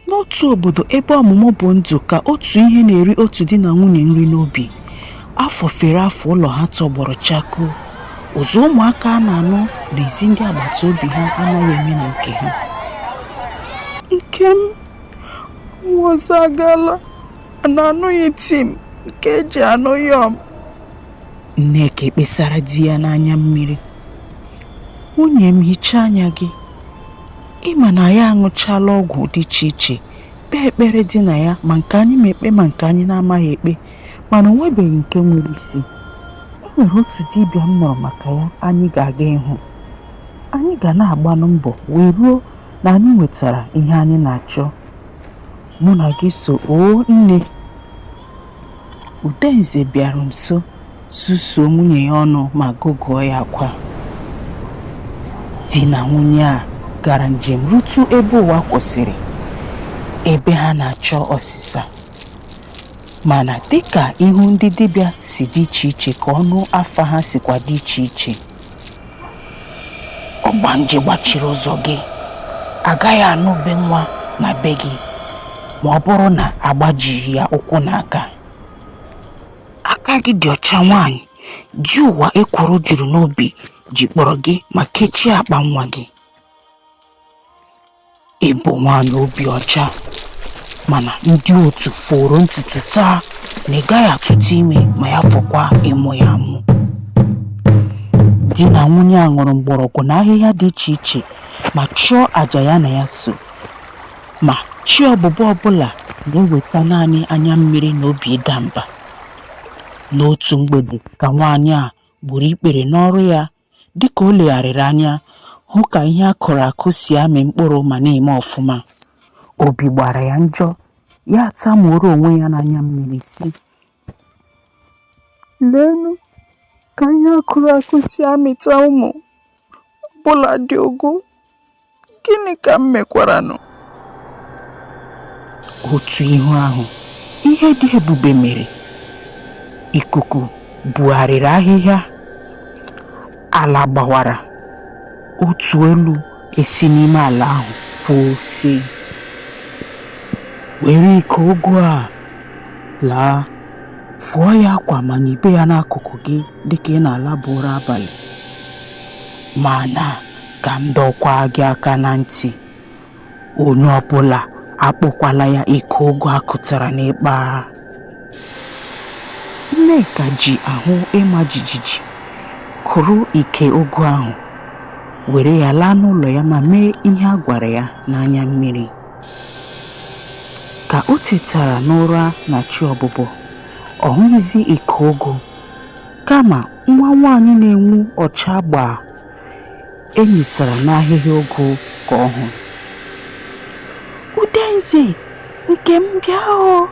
N'otu obodo ebe ọmụmụ bụ ndụ ka otu ihe na-eri otu di na nwunye nri n'obi. Afọ fere afọ ụlọ ha tọgbọrọ chakoo. Ụzụ ụmụaka a na-anụ n'ezi ndị agbata obi ha anaghị eme na nke ha. Nkem, ọnwa ọzọ agaala na-anụghị tim nke e ji anụ yọm. Nneka ekpesara di ya n'anya mmiri. Nwunye m hichaa anya gị. ị ma na anyị aṅụchala ọgwụ dị iche iche kpee ekpere dị na ya ma nke anyị ma ekpe ma nke anyị na-amaghị ekpe mana o nwebeghị nke nwere isi e nwere otu dibịa m nụrụ maka ya anyị ga-aga ịhụ anyị ga na-agbanụ mbọ wee ruo na anyị nwetara ihe anyị na-achọ mụ na gị so oo nne Udenze bịara nso susuo nwunye ya ọnụ ma gụgụọ ya akwa. Di na nwunye a gara njem rutu ebe ụwa kwụsịrị, ebe ha na-achọ ọsịsa. Mana dịka ihu ndị dibịa si dị iche iche ka ọnụ afa ha sikwa dị iche iche, ọgbanje gbachiri ụzọ gị agaghị anụ ube nwa na be gị ma ọ bụrụ na a gbajighị ya ụkwụ na aka aka gị dị ọcha nwaanyị di ụwa ekworo juru n'obi jikpọrọ gị ma kechie akpa nwa gị ị bụ nwaanyị obi ọcha mana ndị otu foro ntutu taa na ị gaghị atụta ime ma ya fọkwa ịmụ ya amụ di na nwunye a ṅụrụ mgbọrọgwụ na ahịhịa dị iche iche ma chụọ àjà ya na ya so ma chi ọbụbọ ọbụla na-eweta naanị anya mmiri na obi ịda mba n'otu mgbede ka nwaanyị a gburu ikpere n'ọrụ ya Dịka o legharịrị anya hụ ka ihe a kụrụ akụ si amị mkpụrụ ma na-eme ọfụma, obi gbara ya njọ, ya atamuoro onwe ya n'anya mmiri sị, Leenụ ka ihe a kụrụ akụ si amịta ụmụ, ọbụladị ụgụ! gịnị ka m mekwaranụ otu ihu ahụ ihe dị ebube mere ikuku bugharịrị ahịhịa ala gbawara otu olu esi n'ime ala ahụ kwuo sị were iko ụgụ a laa fụọ ya akwa ma nibe ya n'akụkụ gị dịka ị na-alaba ụra abalị ma na ka m dọkwaa gị aka na ntị onye ọbụla akpọkwala ya ike ụgụ a kụtara n'ịkpa nneka ji ahụ ịma jijiji kụrụ ike ụgụ ahụ were ya laa n'ụlọ ya ma mee ihe a gwara ya n'anya mmiri ka o tetara n'ụra na chi ọbụbọ ọ hụghịzi ike ụgụ kama nwa nwaanyị na-enwu ọcha gbaa e misara n'ahịhịa ụgụ ka ọ hụrụ udenze nke m bịa o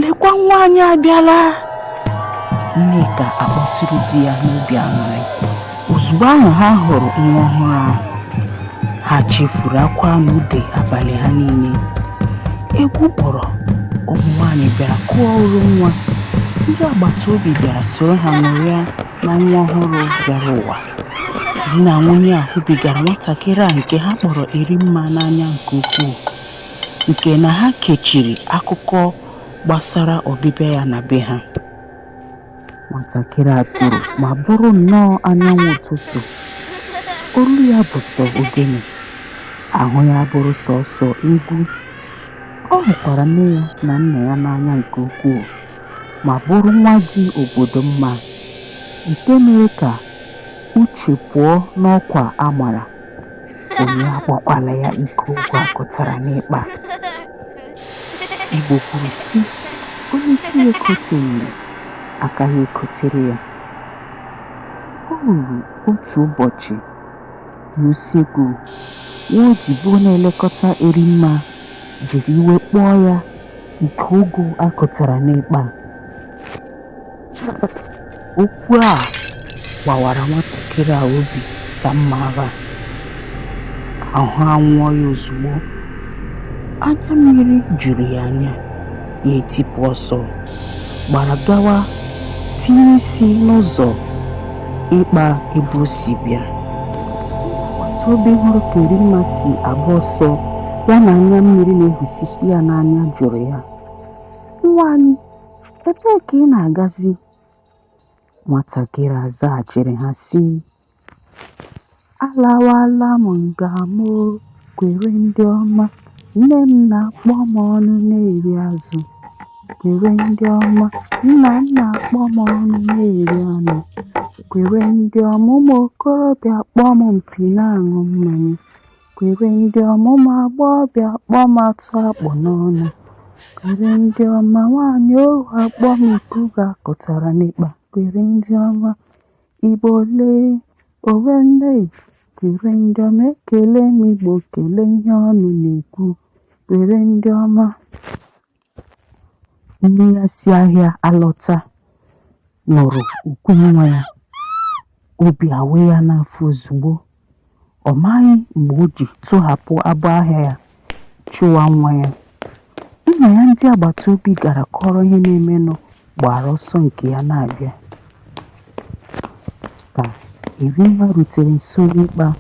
lekwa nwa anyị abịala nneka akpọtụrụ di ya n'obi aṅụrị ozugbo ahụ ha hụrụ nwa ọhụrụ ahụ ha chefuru akwa na ude abalị ha niile egwu kpọrọ ụmụ nwaanyị bịara kụọ oro nwa ndị agbata obi bịara soro ha ṅụrịa na nwa ọhụrụ bịara ụwa di na nwunye a hụbigara nwatakịrị a nke ha kpọrọ Erimma n'anya nke ukwuu nke na ha kechiri akụkọ gbasara ọbịbịa ya na be ha nwatakịrị a toro ma bụrụ nnọọ anyanwụ ụtụtụ olu ya bụ sọ ogene ahụ ya bụrụ sọsọ egwu ọ hụkwara nne ya na nna ya n'anya nke ukwuu ma bụrụ nwa dị obodo mma eteghị aka uche pụọ n'ọkwa a mara. Onye akpọkwala ya ike ụgụ a kụtara n'ịkpa. Igbo kwuru sị, onye isi ya ekoteghị, aka ya ekotere ya. O ruru otu ụbọchị n'usekwu, nwa odibo na-elekọta Erimma jiri iwe kpọọ ya ike ụgụ a kụtara n'ịkpa okwu a gbawara nwatakịrị a obi ka mma agha ahụ anwụọ ya ozugbo anya mmiri juru ya anya ya etipụ ọsọ gbara gawa tinye isi n'ụzọ ịkpa ebe o si bịa agbata obi hụrụ ka Erimma si agba ọsọ ya na anya mmiri na-ehusisi ya n'anya jụrụ ya nwa anyị ebee ka ị na-agazi nwatakịrị a zaghachiri ha sị Alawala m nga m o, kwere ndị ọma, nne m na-akpọ m ọnụ na-eri azụ. Kwere ndị ọma, nna m na-akpọ m ọnụ na-eri anụ. Kwere ndị ọma, ụmụ okorobịa akpọ m mpi na-aṅụ mmanya. Kwere ndị ọma, ụmụ agbọghọbịa akpọ m atụ a kpụ n'ọnụ. Kwere ndị ọma, nwaanyị oru akpọ m ike ụgụ a kụtara n'ịkpa. Kwere ndị ọma. Igbo lee owe nne dịrị ndị ọma ekele m Igbo kele ihe ọnụ na-ekwu dịrị ndị ọma nne ya si ahịa alọta nụrụ ukwe nwa ya obi awe ya n'afọ ozugbo Ọ maghị mgbe o ji tụhapụ abọ ahịa ya chụwa nwa ya. Nna ya ndị agbata obi gara kọọrọ ihe na-emenụ gbara ọsọ nke ya na-abịa. Ka Erinwa rutere nso n'ikpe a,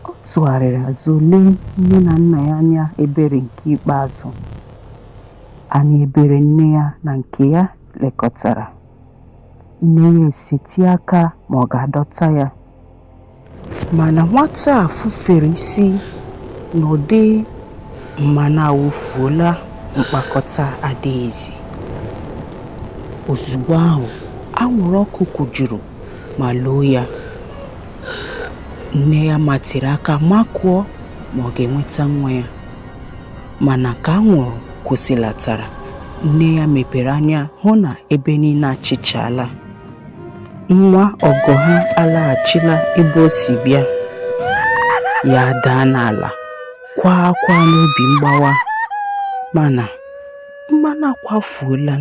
ọ tụgharịrị azụ lee nne na nna ya anya ebere nke ikpeazụ. Anya ebere nne ya na nke ya lekọtara. Nne ya esetịa aka ma ọ ga-adọta ya. Mana nwata a fufere isi n'ụdị mmanụ awụfuola mkpakọta adịghịzi. Ozugbo ahụ, anwụrụ ọkụ kụjuru ma loo ya. Nne ya matịrị aka makụọ ma ọ ga-enweta nwa ya. Mana ka anwụrụ kwụsịlatara, nne ya mepere anya hụ na ebe niile achịchaala. nwa ọgọ ha alaghachila ebe o si bịa ya adaa n'ala kwaa akwa n'obi mgbawa mana mmanụ akwafuola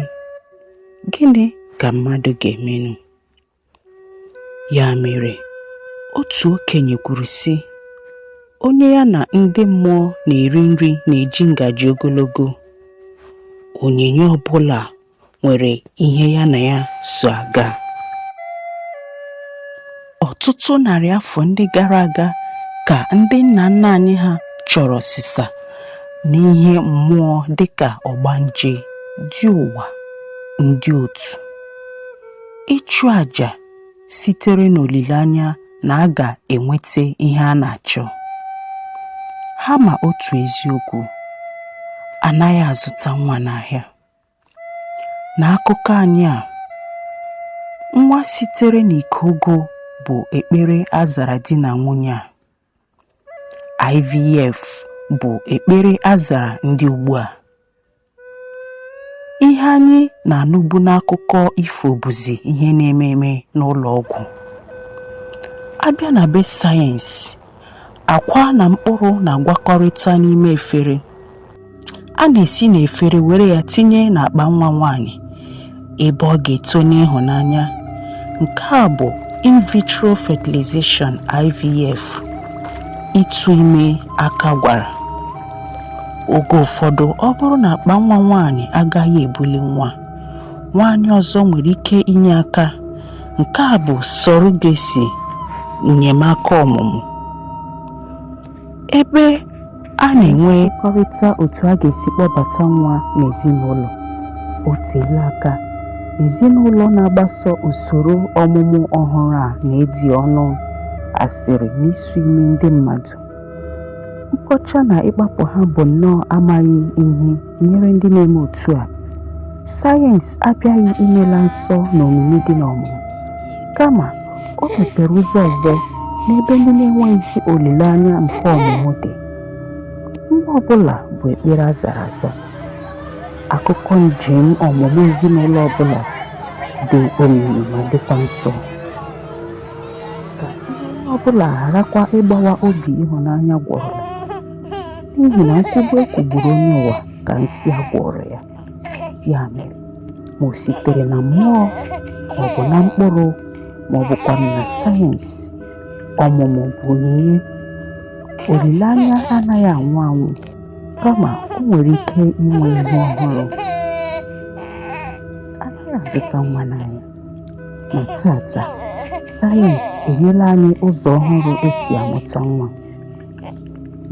gịnị ka mmadụ ga-emenụ ya mere otu okenye kwuru sị onye ya na ndị mmụọ na-eri nri na-eji ngaji ogologo onyinye ọbụla nwere ihe ya na ya so aga. Ọtụtụ narị afọ ndị gara aga ka ndị nna nna anyị ha chọrọ ọsịsa n'ihe mmụọ dịka ọgbanje, di ụwa, ndị otu. Ịchụ aja sitere n'olileanya na a ga-enweta ihe a na-achọ. Ha ma otu eziokwu, anaghị azụta nwa n'ahịa. N'akụkọ anyị a, nwa sitere n'ike ọgwụ bụ ekpere a zara di na nwunye a. IVF bụ ekpere a zara ndị ugbu a. Ihe anyị na-anụbu n'akụkọ ifo bụzi ihe na-eme eme n'ụlọ ọgwụ. A bịa na be sayensị, Akwa na mkpụrụ na-agwakọrịta n'ime efere. A na-esi n'efere were ya tinye n'akpa nwa nwaanyị ebe ọ ga-eto n'ịhụnanya. Nke a bụ in vitro fertilization IVF ịtụ ime aka gwara. Oge ụfọdụ ọ bụrụ na akpa nwa nwaanyị agaghị ebuli nwa, nwaanyị ọzọ nwere ike inye aka Nke a bụ surrogacy enyemaka ọmụmụ ebe a na-ekwekọrịta otu a ga-esi kpọbata nwa n'ezinụlọ. O teela aka ezinụlọ na-agbaso usoro ọmụmụ ọhụrụ a na-edi ọnụ asịrị na isu imi ndị mmadụ. Nkọcha na ịkpapụ ha bụ nnọọ amaghị ihe. Nyere ndị na-eme otu a, sayensị abịaghị imela nsọ na omimi dị n'ọmụmụ, kama o mepere ụzọ ọzọ n'ebe ndị na-enweghịzi olileanya nke ọmụmụ dị. Nwa ọ bụla bụ ekpere a zara aza. Akụkọ njem ọmụmụ ezinụlọ ọ bụla dị omimi ma dịkwa nsọ. Ka ire onye ọ bụla gharakwa ịgbawa obi ịhụnanya gwọrọ. n'ihi na nkwugbu e kwugburu onye ụwa ka nsi a gwọrọ ya ya mere ma o sitere na mmụọ ma ọ bụ na mkpụrụ ma ọ bụkwa na sayensị ọmụmụ bụ onyinye olileanya anaghị anwụ anwụ kama o nwere ike inwe ihe ọhụrụ anaghị azụta nwa n'ahịa ma tata sayensị enyela anyị ụzọ ọhụrụ e si amụta nwa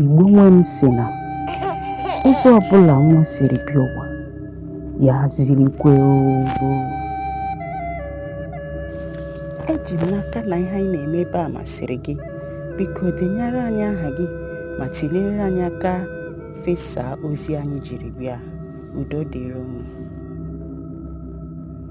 Igbo nwe m sị na ebe ọbụla nwa siri bịa ụwa ya zirikwe ogo eji m n'aka na ihe anyị na-eme ebe a masịrị gị biko denyere anyị aha gị ma tinyere anyị aka fesa ozi anyị jiri bịa udo dịrị unu